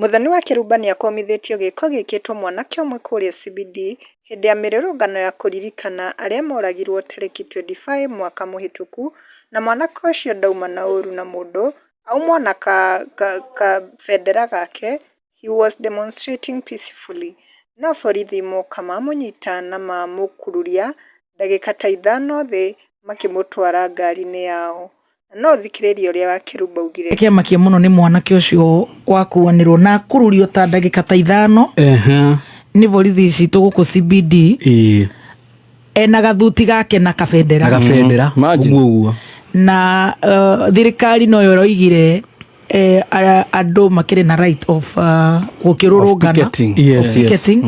Mũthoni wa Kĩrumba nĩakomithĩtio gĩĩko gĩĩkĩtwo mwanake ũmwe kũrĩa Sibidi hĩndĩ ya mĩrũrũngano ya kũririkana arĩa moragirwo tarĩki 25 mwaka mũhĩtũku na mwanake ũcio ndauma na ũru na mũndũ aumwo na kabendera gake he was demonstrating peacefully no borithi moka mamũnyita na mamũkururia ndagĩka ta ithano thĩ makĩmũtwara ngari-inĩ yao. Na no ũthikĩrĩrie ũrĩa Wakĩrumba augire. Nĩkĩamakia mũno nĩ mwanake ũcio wakuanĩrwo na kũrurio ta ndagĩka ta ithano nĩ borithi citũ gũkũ CBD ena gathuti gake na kabendera. Na kabendera, ũguo ũguo. Na thirikari noyo ĩroigire andũ makĩrĩ na right of gũkĩrũrũngana, of picketing,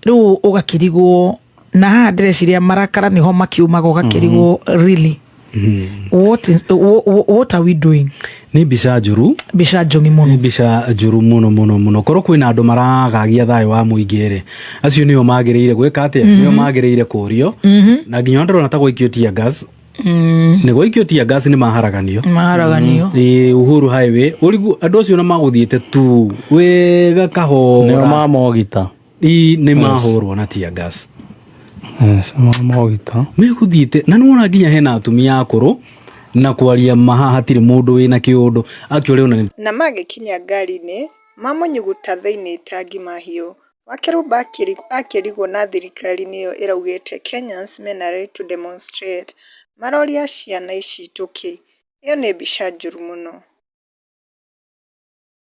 rĩu ũgakĩrigwo. na haha ndĩreciria marakara nĩho makiumaga ũgakĩrigwo mhm. really what is what are we doing ni mbica njuru mbica njongi muno mbica njuru muno muno muno korwo kwina andu maragagia thayo wa muingi ri acio nio magirire gwika atia mm -hmm. nio magirire kurio mm -hmm. na nginya ndirona ta gwikio tia gas Mm. nä gwaikio tia ngasi nä maharaganio maharaganio mm. ä uhuru highway å rigu andå acio na magå thiä te tu wega kahora nä mamogita i nä mahå rwo na tia gas Yes, ma- mogita nä gå thiä te na nä wona nginya hena atumia akå rå na kwaria maha hatirä må ndå wä na kä å ndå akä rä ona nä Na magĩkinya ngari-inĩ, mamũnyuguta thĩinĩ ta ngima hiũ. Wakeru Bakirĩ akĩrigwo na thirikari nĩyo ĩraugĩte Kenyans mena right to demonstrate. Maroria ciana ici tũkĩ. Ĩyo nĩ mbica njũru mũno.